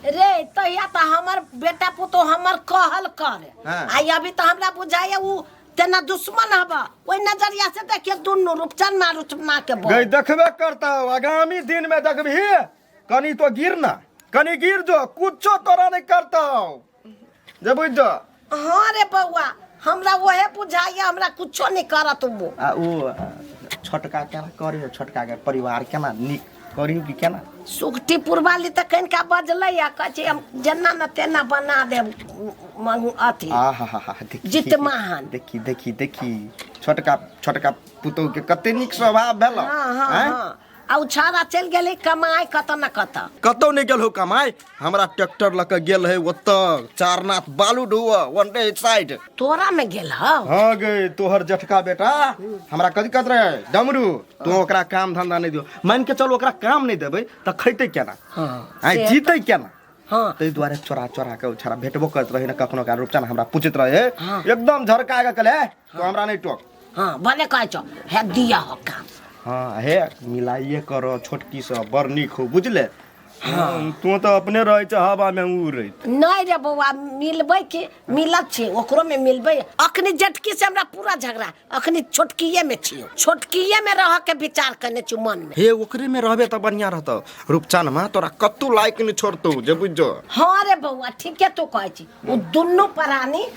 रे तहिया तऽ हमर बेटा पुतो हमर कहल करे हाँ। आ अभी तऽ हमरा बुझाइए उ तेना दुश्मन हबा ओहि नजरिया से देखिए दुनू रूपचन ना रूपचना के बोल गई देखबे करता आगामी दिन में देखबी कनी तो गिर ना कनी गिर जो कुछो तोरा नहीं करता जे बुझ जा हाँ रे बउआ हमरा ओहे बुझाइए हमरा कुछो नहीं करत वो आ ओ छोटका केना करियो छोटका के परिवार केना नीक करियो कि केना सुगटी पुरवाली तऽ कनिका बजलै आ कहै छै हम जेना ने तेना बना देब मनु अथी आ हा हा हा देखी जितमाहन। देखी देखी देखी छोटका छोटका पुतोह के कते नीक स्वभाव भेलो हाँ, हाँ, हैं? हाँ। आ उ छौड़ा चल गेले कमाए कत न कत कतौ नहीं गेल हो कमाए हमरा ट्रैक्टर लग के गेल है ओत चारनाथ बालू ढोव वन डे साइड तोरा में गेल हौ हाँ गे तोहर जठका बेटा हमरा कथी कहत रहे डमरू तू ओकरा काम धंधा नहीं दियो मान के चल ओकरा काम नहीं देबे त खैते केना हाँ, आइ से- जीते केना हाँ ताहि दुआरे चोरा चोरा के छड़ा भेटबो करत रहे न कखनो का रूपचन हमरा पूछत रहे एकदम झरका के कले तू हमरा नहीं टोक हँ भने कहै छौ हे दिया हो काम हाँ हे मिलाइए करो छोटकी से बड़ नीक हो बुझले हाँ तू तो अपने रहे छ हवा में उड़ैत नहीं रे बौआ मिलबै कि मिलत छी ओकरो में मिलबै अखनी जटकी से हमरा पूरा झगड़ा अखनी छोटकिए में छियो छोटकिए में रह के विचार करने छी मन में हे ओकरे में रहबे त बढ़िया रहतौ रूपचान माँ तोरा कत्तू लायक नहीं छोड़तौ जे बुझो हाँ रे बौआ ठीके तू कहै छी ओ दुनू प्राणी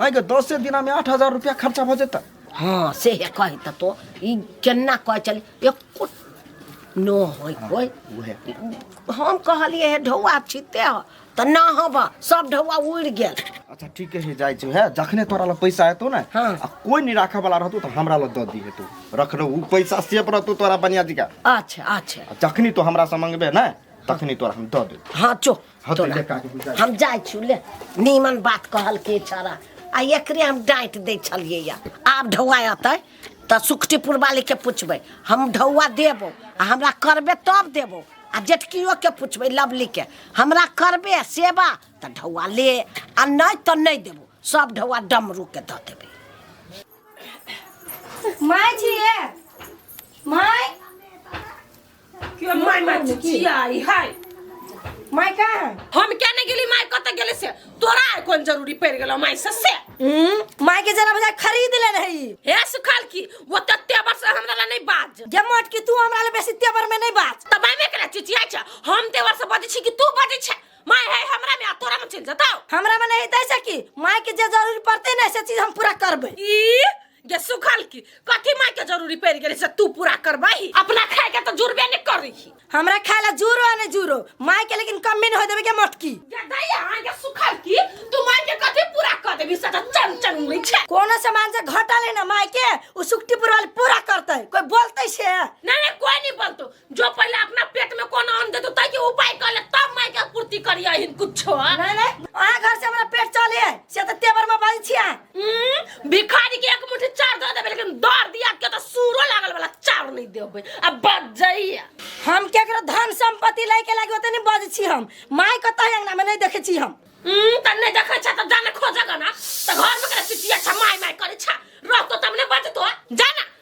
आइ के दसे दिना में आठ हजार रुपया खर्चा भ जेता हाँ से है कहे त तो ई केना कहे चल एको नो होय कोय उहे हम कहलिए हे ढौआ छिते ह त ना हबा सब ढौआ उड़ गेल अच्छा ठीक है जाय छु है जखने तोरा ल पैसा आतो ना हाँ। आ कोई नहीं राखे वाला रहतो त हमरा ल द दी है तू रखनो उ पैसा सेफ रहतो तोरा बनिया जी का अच्छा अच्छा आ जखनी तो हमरा से मंगबे ना तखनी तोरा हम द दे हाँ चो हत तोरा। ले का के बुझा हम जाइ छु ले नीमन बात कहल के छरा आ एकरे हम डांट दै छलियै या आब ढौआ अतै तऽ सुखटीपुर वाली के पूछबै हम ढौआ देबो आ हमरा करबे तब देबो आ जेठकियो के पूछबै लवली के हमरा करबे सेवा तऽ ढौआ ले आ नहि तऽ नहि देबो सब ढौआ डमरू के दऽ देबै माय छिए माय के माय माय चिचिया आई हाय माय का है हम क्या नहीं गेली माय कत गेले से तोरा आय कोन जरूरी पड़ गेलो माय से से हम्म, माय के जरा बजा खरीद ले रही हे सुखाल की वो तत्ते वर्ष हमरा ला नहीं बाज जे मोट की तू हमरा ले बेसी तेवर में नहीं बाज तब मैं करा चिचिया छ हम ते वर्ष बजे छी कि तू बजे छ माय है हमरा में आ तोरा में चल जताओ हमरा में नहीं दै सकी माय के जे जरूरी पड़ते ना से चीज हम पूरा करबे ई जे सुखल की कथी माय के जरूरी पड़ गेले से तू पूरा करबही अपना खाए के तो जुड़बे नहीं करी हमरा खाए ला जूरो आ ने जूरो माय के लेकिन कमी न हो देवे के मटकी जे दैया हां के सुखल की तू माय के कथी पूरा कर देबी से तो चम चम उड़ी छे कोनो सामान से घटा लेना माय के उ सुक्तिपुर वाली पूरा करते कोई बोलते से ना ना कोई नहीं बोलतो जो पहले अपना पेट में कौन अन्न देतो ताकि उपाय कर ले तब माय के पूर्ति करिया हिन कुछो नहीं नहीं अहाँ घर से हमरा पेट चले है से तो तेवर में बल छिया हम्म, भिखारी के एक मुट्ठी चार दे देबे लेकिन दर दिया के तो सूरो लागल वाला चार नहीं देबे अब बच जाइए हम केकरो धन संपत्ति लै के लागे ओतने बज छी हम माय कतऽ है अंगना में नहीं देखे छी हम हम्म, त नहीं देखे छ त जाने खोजे गना त घर में करे चिटिया छ माय माय करे छ रहतो तब ने बचतो जाना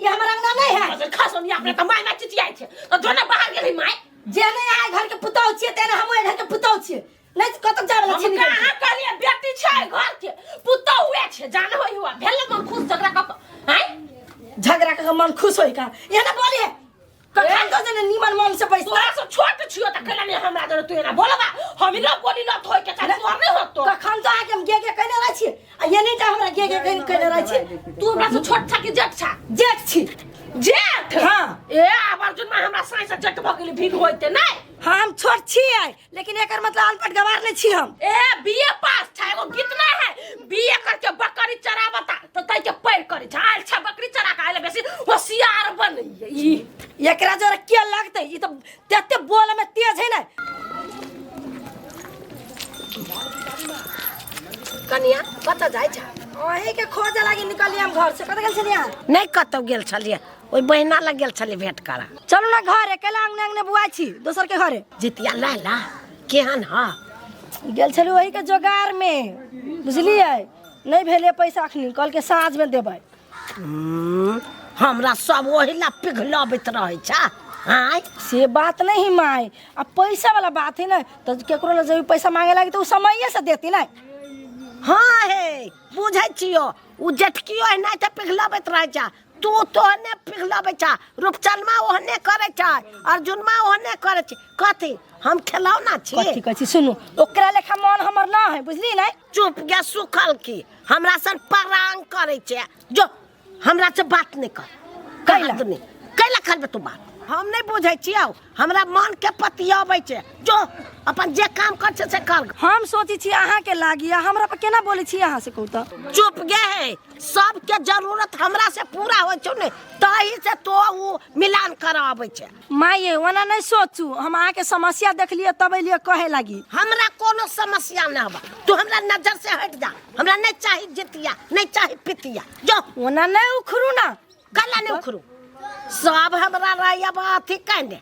ई हमर अंगना नहीं है अरे खा सोनिया अपने तो माय माय चिचियाई छे तो जोना बाहर गेली माय जे नहीं आए घर के पुतौ छिए तेने हम ओए घर के पुतौ छिए नहीं तो कतक जावे हम छी निकल कहां कहलिए बेटी छे घर के पुतो हुए छे जान होई हुआ भेल मन खुश झगड़ा क हैं झगड़ा के मन खुश होई का ये ना बोली है कखन तो देने नीमन मन से बैस तोरा से छोट छियो त केना ने हमरा दर तू एना बोलबा हम इना बोली न थोय के चाहे तोर नै होतो कखन तो आके हम गे गे कहने रहै छी आ ये नहीं टा हमरा गे गे कहने कहने रहै छी तू हमरा से छोट छा कि जेठ छा जेठ छी जेठ हाँ। ए आब अर्जुन में हमरा साई से जेठ भ गेली भीड़ होइते नै हम छोट छी आइ लेकिन एकर मतलब अनपढ़ गवार नहीं छी हम ए बीए पास छै एगो गीत ना है बीए करके बकरी चरावता तो तै के पैर करी झाल छ बकरी चरा के आइले बेसी होशियार बनैया ई एकरा जोरा के लगते ई तो तेते बोल में तेज है ना कनिया कत जाय छ ओही के खोज लागी निकलिए हम घर से कत गेल छलिया नहीं कतौ गेल छलिए ओहि बहिना लग गेल छलै भेंट करऽ चलू ने घरे कैला अंगने अंगने बुआइ छी दोसर के घरे जितिया लैला केहन ह गेल छलू ओही के जोगार में बुझलियै नहीं भेले पैसा अखनी कल के साँझ में देबै हम्म, हमरा सब ओही ला पिघलबैत रहै छ आँय से बात नहीं माय अब पैसा वाला बात है ना तो केकरो लग जब पैसा मांगे लगी तो उ समये से देती ना हाँ हे बुझै छियो ओ जेठकियो एनाहिते पिघलबैत रहै छ तू तो ओहने पिघलबै छ रूपचनमा ओहने करै छ अर्जुनमा ओहने करै छै कथी हम खेलौना छी कथी कहै छी सुनू ओकरा लेखा मन हमर ना है बुझली नै चुप गे सुखल की हमरा सन परांग करै छै जो हमरा से बात नहीं कर कैला? कैला कैला करबे तू बात हम नहीं बुझै छियौ हमरा मन के पतियाबै छै जो अपन जे काम कर छै से कर हम सोची छी अहाँ के लागी आ हमरा पर केना बोले छी अहाँ से कहू तो चुप गे है सबके जरूरत हमरा से पूरा होइ छौ ने तही से तो उ मिलान कराबै छै माई ये ओना नहीं सोचू हम अहाँ के समस्या देखलिए तब एलिए कहे लागी हमरा कोनो समस्या न हवा तू हमरा नजर से हट जा हमरा नहीं चाही जितिया नहीं चाही पितिया जो ओना नहीं उखरू ना कला नहीं उखड़ू सब हमरा रही अब अथी कहने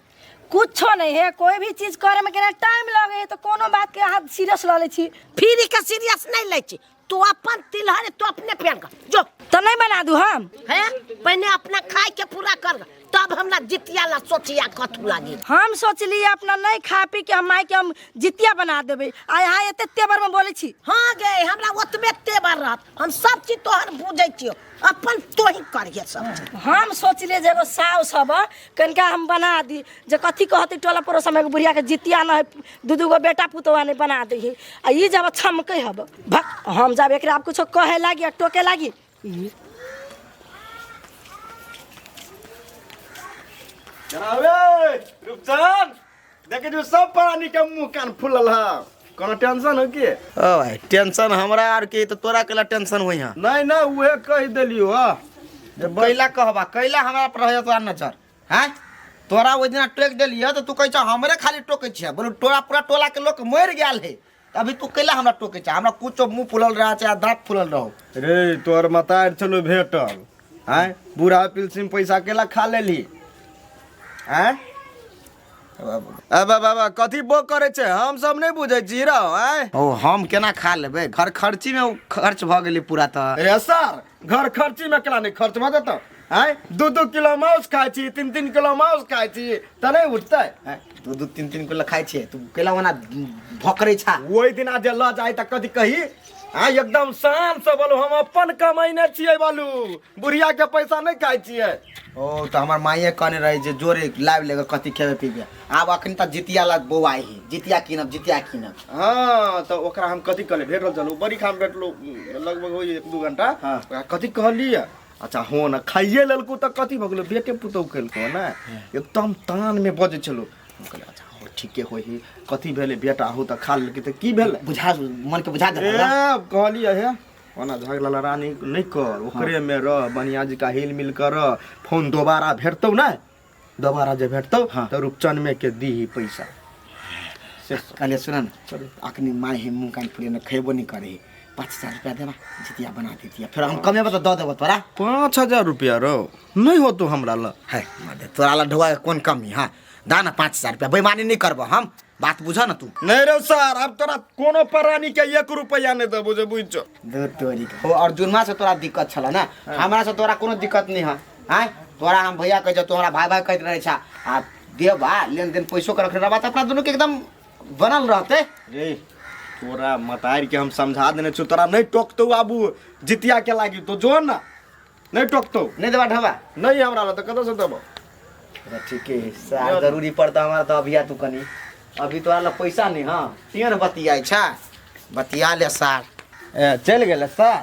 कुछो नहीं है कोई भी चीज करे में केना टाइम लगे है तो कोनो बात के हाथ सीरियस ल ले छी फिर के सीरियस नहीं ले छी तू अपन तिलहर तू अपने पेड़ कर जो तो नहीं बना दू हम है पहले अपना खाए के पूरा कर ग, तब हमरा जितिया ला सोचिया कथू लागी हम सोचली अपना नहीं खा पी के हम माई के हम जितिया बना देबे आ यहाँ एते तेवर में बोले छी हाँ गे हमरा ओतबे तेवर रहत हम सब चीज तोहर बुझै छियो अपन तोही करिए सब चीज। हम सोचलिए जे एगो साउस हब कनिका हम बना दी जे कथी कहती टोला पड़ोस में एगो बुढ़िया के जितिया न है दू दू गो बेटा पुतवा नहीं बना दी आ ई जब छमके हब भक हम जब एकरा आब कुछो कहे लागी आ टोके लागी ई रुपचन देखे जो सब प्राणी के मुंह कान फूलल है कोनो टेंशन हो की ओ भाई टेंशन हमरा आर के तो तोरा केला टेंशन होई हां नहीं ना उहे कह देलियो हा जे कैला कहबा कैला हमरा पर रहे तोरा नजर हैं तोरा ओइ दिना टोक देलिए तो तू कहै छ हमरे खाली टोकै छिया बोलू टोला पूरा टोला के लोग मर गेल है अभी तू कैला हमरा टोके छा हमरा कुछो मुंह फुलल रहा छे आ दांत फुलल रहो रे तोहर मतार चलो भेटल आय बूढ़ा पिलसिन पैसा केला खा लेली आय ए बाबा बाबा कथी बो करे छे हम सब नहीं बुझे छी रहो आय ओ हम केना खा लेबे घर खर्ची में उ खर्च भ गेली पूरा त रे सर घर खर्ची में केला नहीं खर्च भऽ जेतौ आँय दू दू किलो माउस खाइ छी तीन तीन किलो माउस खाइ छी तऽ नहि उठतै आँय, दू दू तीन तीन किलो खाइ छियै तू केला ओना भोकरे छा ओहि दिना जे लऽ जाइ तऽ कथी कही आ एकदम शान से बोलू हम अपन कमैने छियै बोलू बुढ़िया के पैसा नहि खाइ छियै ओ तऽ हमर माइए कहने रहै जे जोरे लाबि लेके कथी खेबे पीबे आब अखन तक जितिया लग बौआइ ही जितिया कीनब जितिया कीनब हाँ तो ओकरा हम कथी कहले भेट रहल चलू बड़ी खाम भेटलो लगभग हो एक दू घंटा हाँ। ओकरा कथी कहलिए अच्छा हो ना खाइए लेलको तो कथी भऽ गेलो बेटे पुतौ केलको ना एकदम तान में बजे चलो हम कहले अच्छा हो ठीके होई ही कथी भेले बेटा हो तो खा लेलकै तो की भेले बुझा मन के बुझा ए देला अब कहलिए हे ओना झगला लड़ानी नहीं कर ओकरे में रह बढ़िया जी का हिल मिल कर रह। फोन दोबारा भेटतौ ना दोबारा जे भेटतौ हाँ। तऽ रूपचन में के दीही पैसा से कहलिए सुन न चलू अखनी माय हे मुँह कान फुले खेबो नहीं करे पाँच हजार रुपया देना जितिया बना देतिया फिर हम कमे बता दऽ देबो तोरा पाँच हजार रुपया रो नहीं हो तो हमरा ल है मदे तोरा ला ढोआ कौन कमी हाँ दा ना पाँच हजार रुपया बेईमानी नहीं करबो हम बात बुझ ना तू नहीं रे सर अब तोरा कोनो परानी के एक रुपया नहीं देबो जे बुझ दो तोरी हो अर्जुनमा से तोरा दिक्कत छला ना हमरा से तोरा कोनो दिक्कत नहीं है आय तोरा हम भैया कह जा तोरा भाई भाई कहते रहे छा आ देवा लेन देन पैसो के रखने रहबा त अपना दोनों के एकदम बनल रहते रे तोरा मतार के हम समझा देने छु तोरा नहीं टोकतो आबू जितिया के लागी तो जो ना नहीं टोकतो नहीं देवा ढबा नहीं हमरा ला तो कतो से देबो अरे ठीक है सार जरूरी पड़ता हमारा तो अभी आ तू कनी अभी तोरा ला पैसा नहीं हाँ तीन बतिया छा बतिया ले सार ए, चल गेल सर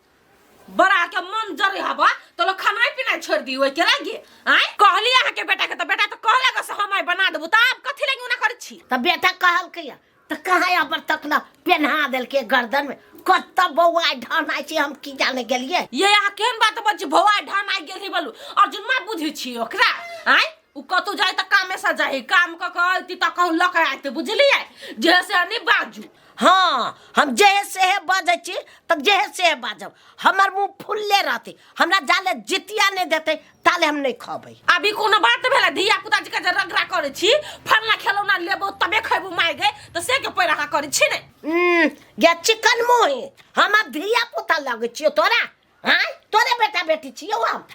बड़ा के मन जरे हबा तो लोग खाना पीना छोड़ दी ओइ के लागे आय कहली अहाँ के बेटा के तो बेटा तो कहले गो से हम आइ बना देबो त आप कथि लागे उना करै छी त बेटा कहल के त कहाँ अबर तक न पेन्हा देल के गर्दन में कत बौआ ढहना छी हम की जाने गेलिए ये अहाँ केहन बात बज भौआ ढान आइ गेल ही बोलू अर्जुन माय बुझै छी ओकरा आय उ कतौ जाए त कामे से जाए काम क के अइती त कहूँ लक आइते बुझलिए जे से नहीं बाजू हाँ हम जेहे सेहे बजै छी तब जेहे सेहे बाजब हमर मुंह फुलले रहते हमरा जाले जितिया नहीं देते ताले हम नहीं खबै अभी कोनो बात भेला धिया पुता जी के जे रगड़ा करे छी फलना खिलौना लेबो तबे खैबो माय गए त से के पैर अहाँ करे छी ने उम्म, या चिकन मुंह हमर धिया पुता लगे छियो तोरा हाँ तोरे बेटा बेटी छी यौ हम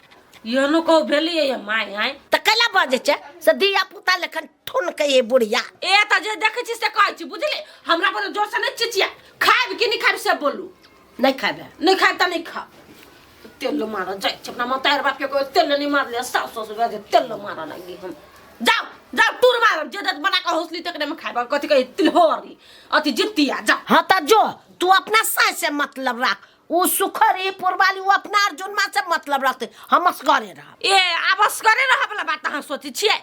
यहनो कहू भेलियै ये माय आय तऽ कैला बजे छै से धिया पुता लेखन ठुन के ये बुढ़िया ए तऽ जे देखै छी से कहै छी बुझली हमरा पर जोर से नहि चिचिया खायब कि नहि खायब से बोलू नहीं खाबे नहि खायब तऽ नहि खाब तेल मारऽ जाइ छै अपना मतार बाप के कोई तेल नहि मारले सास ससुर बाजे तेल मारऽ लगी हम जाओ जाओ टूर मारब जे दत बना के हौसली तकरे में खायब कथी कहै तिलहोरी अथी जितिया जा हाँ तऽ जो तू अपना सास से मतलब राख ऊ सुखर ई पुरवाली ऊ अपना अर्जुनमा से मतलब रखते हम असगरे रहब ए आब असगरे रहे वाला बात अहाँ सोचै छियै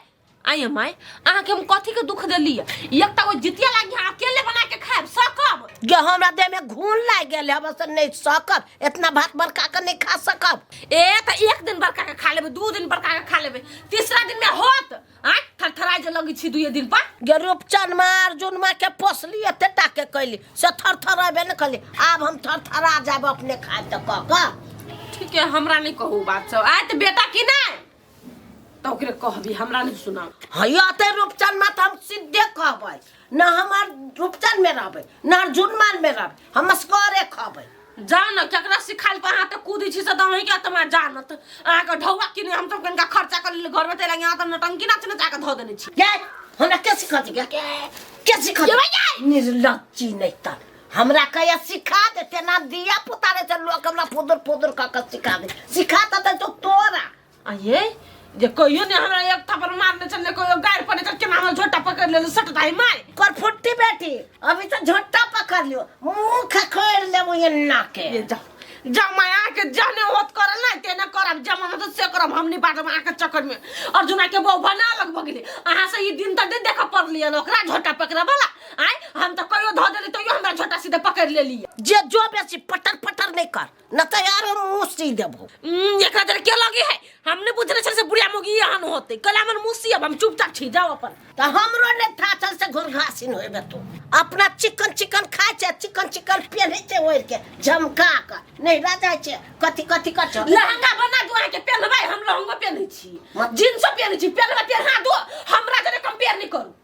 आइ हम आइ अहाँके हम कथी के दुख देलियै एक तऽ ओ जितिया लागि अहाँ अकेले बना के खाएब सकब जे हमरा देह में घून लागि गेल हम से नहीं सकब इतना भात बड़का के नहीं खा सकब ए तऽ एक दिन बड़का के खा लेबै दू दिन बड़का के खा लेबै तीसरा दिन में होत आ थरथरा जे लगी छी दुए दिन पर गे रूपचन मार जुनमा के पोसली एते टा के कैली से थर थर अबे ने कैली आब हम थर थरा जाब अपने खाए तो कह कह ठीक है हमरा नहीं कहू बात सब आए तो बेटा की नहीं तो ओकरे कहबी हमरा नहीं सुना हैया ते रूपचन मात हम सीधे कहबै ना हमार रूपचन में रहबे ना जुनमान में रहबे हम असगरे खबे जान केकरा सिखाइल पर अहाँ तऽ कूदी छी से दही के तमा जानत अहाँके ढौआ किने हम सब कनिका खर्चा कर लेली घरमे तेरा यहाँ तऽ नटंकी नाच नचा के धऽ देने छी गए हमरा के सिखा दी गए के सिखा दी निर्लज्जी नहीं तर हमरा कया सिखा दे तेना दिया पुता रे चल लोग हमरा फुदुर फुदुर का का सिखा दे सिखा दे तो तोरा आ ये जे कहियो ने हमरा एक थप्पड़ मारने छन ने कहियो गाड़ पड़ने छन केना हम झोटा पकड़ लेलु सटदाई माय कर फुट्टी बेटी अभी तो झोटा पकड़ लियो मुंह खखोर ले मुंह एन्ना के ये जा जा माय आ के जाने होत कर ना ते ना करब जमा हम तो से करब हमनी बात में आ के चक्कर में अर्जुना के बहू बना लग बगले अहां से ई दिन त दे देख पड़ लिया ओकरा झोटा पकड़े वाला आय हम तो कहियो धो देली तो यो हमरा झोटा सीधे पकड़ लेली जे जो बेसी पटर पटर नहीं कर ना तो यार हम मुंह सी देबो हम्म, एकरा देर के लगे है हमने बुझने छल से बुढ़िया मोगी हन होते कल हमर मुसी अब हम चुपचाप छी जाओ अपन तो हमरो ने था चल से घुर घासिन होए बे तू अपना चिकन चिकन खाए छे चिकन चिकन पहने छे ओढ़ के झमका के नहीं रह जाए छे कथी कथी कर छे लहंगा बना दो के पहनबाई हम लहंगा पहने छी मत- जींस पहने छी पहनबा पहना दो हमरा जरे कंपेयर नहीं करू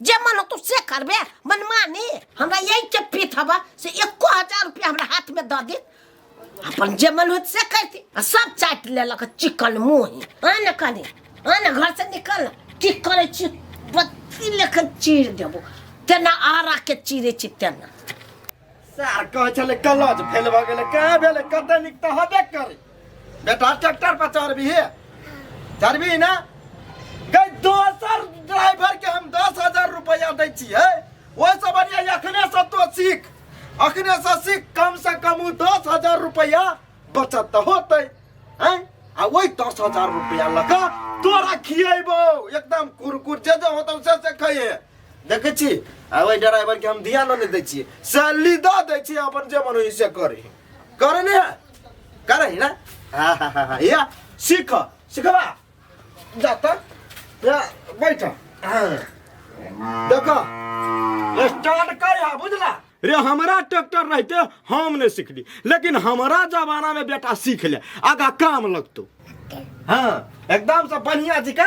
जे मन होतो से करबे मनमानी हमरा यही के पीत हवा से एको हजार रुपया हमरा हाथ में दऽ दे अपन जे मन होत से करती आ सब चाट लेलक चिकन मुँह आन कनी आन घर से निकल की करे छी बत्ती लेखन चीर देबो तेना आरा के चीरे छी तेना सार कहै छलै कलज फेल भऽ गेलै कहाँ भेलै कते नीक तऽ हबे करै बेटा ट्रैक्टर पर चढ़बी हे चढ़बी ना गई दोसर ड्राइवर के हम दस हजार रुपया दै छियै ओहि से बढ़िया अखने से तो सीख अखने से सीख कम से कम उ दस हजार रुपया बचत तऽ होतै हैं आ वही दस हजार रुपया लगा तोरा खिएबो एकदम कुरकुर जे जे होतौ से से खइहे देखै छी आ ओहि ड्राइवर के हम ध्यान नहि दै छियै सैलरी दऽ दै छियै अपन जे मन होइए से करी करै नहि है करै है ने हा हा हा हा या सीख सिखबा जा तऽ या बैठ देखऽ स्टार्ट कर हा बुझला रे हमरा ट्रैक्टर रहते हम नहीं सीखली लेकिन हमारा जमाना में बेटा सीख ले आगा काम लगतो हाँ एकदम से बढ़िया जी का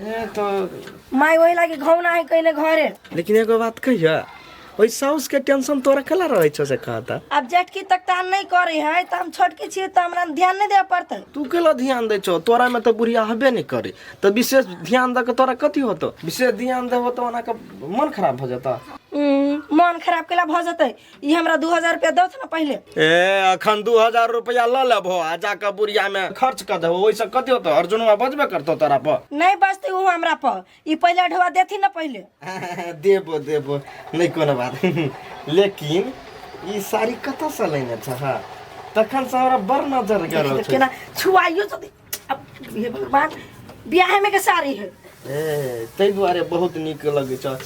ए तो माय वही लागी घौना है कहने घरे लेकिन एगो बात कहिया ओइ साउस के टेंशन तोरा कला रहै छौ से कहता अब जेठकी तक तान नहीं करे है तो हम छोटकी छिए तो हमरा ध्यान नहीं दे पड़ते तू केला ध्यान दै छौ तोरा में तो बुढ़िया हबे नहीं करे तो विशेष ध्यान दे के तोरा कथी होतो विशेष ध्यान देबो तो ओना के मन खराब भ जता हम्म, मन खराब केला भ जते ई हमरा दू हजार रुपया दौथ ना पहिले ए अखन दू हजार रुपया लऽ लेबहो आ जाके बुढ़िया में खर्च कर देबो ओइसे कतियो तो अर्जुनवा बजबे करतो तोरा पर नहीं बचते हो हमरा पर ई पहिले अढ़वा देथी ना पहिले देबो देबो नहीं कोनो बात लेकिन ई साड़ी कतऽ से लेने छह तखन से हमरा बड़ नजर गरल छौ केना छुआइयो जदी अब हे भगवान बियाह में के साड़ी है ए ताहि दुआरे बहुत नीक लगै छ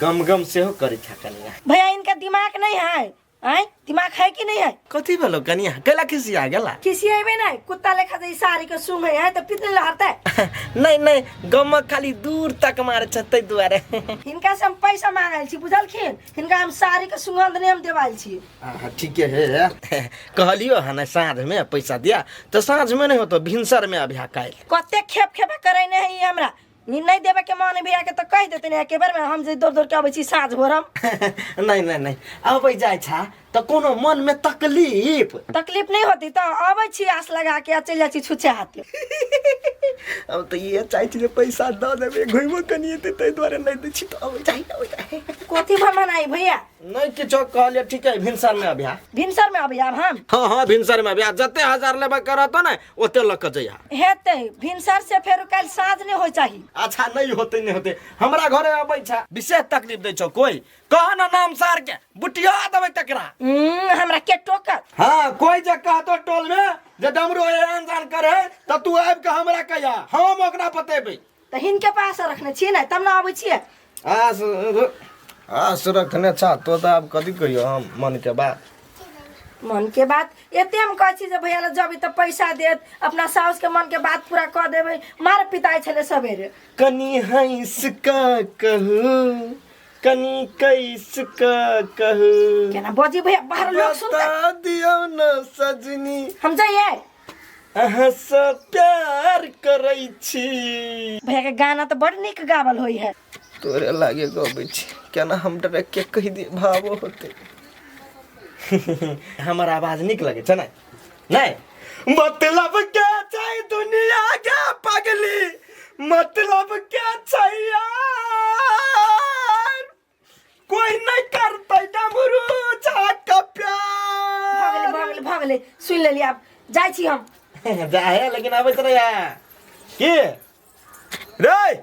गम गम सेहो करै छ कनिया भैया इनका दिमाग नहीं है आय दिमाग है कि नहीं है कथी भेलो कनिया कैला खिसिया गेला खिसियाबे नहीं कुत्ता लेखा जे ई साड़ी के सूंघ है तो पितने लहरते नहि नहि गमक खाली दूर तक मारै छ ताहि दुआरे हिनका से हम पैसा मांगल छी बुझलखिन हिनका हम साड़ी के सुगंध नेम देवाल छी अहाँ ठीके हे कहलियो हँ ने साँझमे पैसा दिया तऽ साँझमे नहि होतो भिनसरमे अभ्या काल्हि कते खेप खेपा करे ने है ई हमरा नी नहीं देवे के मन भैया के तो कह देते ने एके बेर में हम जे दौड़ दौड़ के आबे छी साँझ भोर हम नहि नहि नहि अबै जाइ छा तऽ कोनो मनमे तकलीफ तकलीफ नहि होती तऽ अबै छी आस लगा के आ चलि जाइ छी छुच्छे हाथे हम तऽ इहे चाहै छी जे पैसा दऽ देबै घुमो कनि एतै ताहि दुआरे नहि दै छी तऽ अबै जाइ अबै जाइ कथी भर मनाई भैया नहि किछो कहलिए ठीक है भिनसरमे अभ्या भिनसर में अबै आब हम हँ हँ भिनसरमे अभ्या जते हजार लेबे करत ने ओते लऽ कऽ जइहा हेतै भिनसर से फेर काल्हि साँझ नहि होइ चाही अच्छा नहीं होते नहीं होते हमरा घरे अबै छा विशेष तकलीफ दै छौ कोई कह ना नाम सार के बुटिया देबै तकरा हम्म, हमरा के टोकत हाँ कोई जे कहतो टोल में जे डमरू एहन जान करे त तू आबि के हमरा कहिया हम ओकरा बतेबै तऽ हिनके पास रखने छियै ने तब ने अबै छियै आस आस रखने छा तो त आब कथी कहियो हम मन के बात मन के बात एते हम कहै छी जे भैया लग जेबै तऽ पैसा देत अपना साउस के मन के बात पूरा कऽ देबै मार पिटाइ छलै सवेरे कनी हंस का कहू कनी कैस क कह केना बजे भैया बाहर लोग सुनता बता दियो न सजनी हम जाइए अहाँ से प्यार करै छी भैया के गाना तो बड़ निक गावल होई है तोरे लागे गबै छी केना हम डायरेक्ट के कहि दिए भावो होते हमर आवाज नीक लगे छै ने नहीं मतलब क्या चाहिए दुनिया का पगली मतलब क्या चाहिए कोई नहीं करता डमरू जा का प्यार भगले भगले सुन लेली आप जाय छी हम जाहे लेकिन आबे रे यार की रे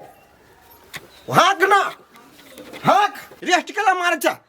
हाक ना हाक रेस्ट कला मार जा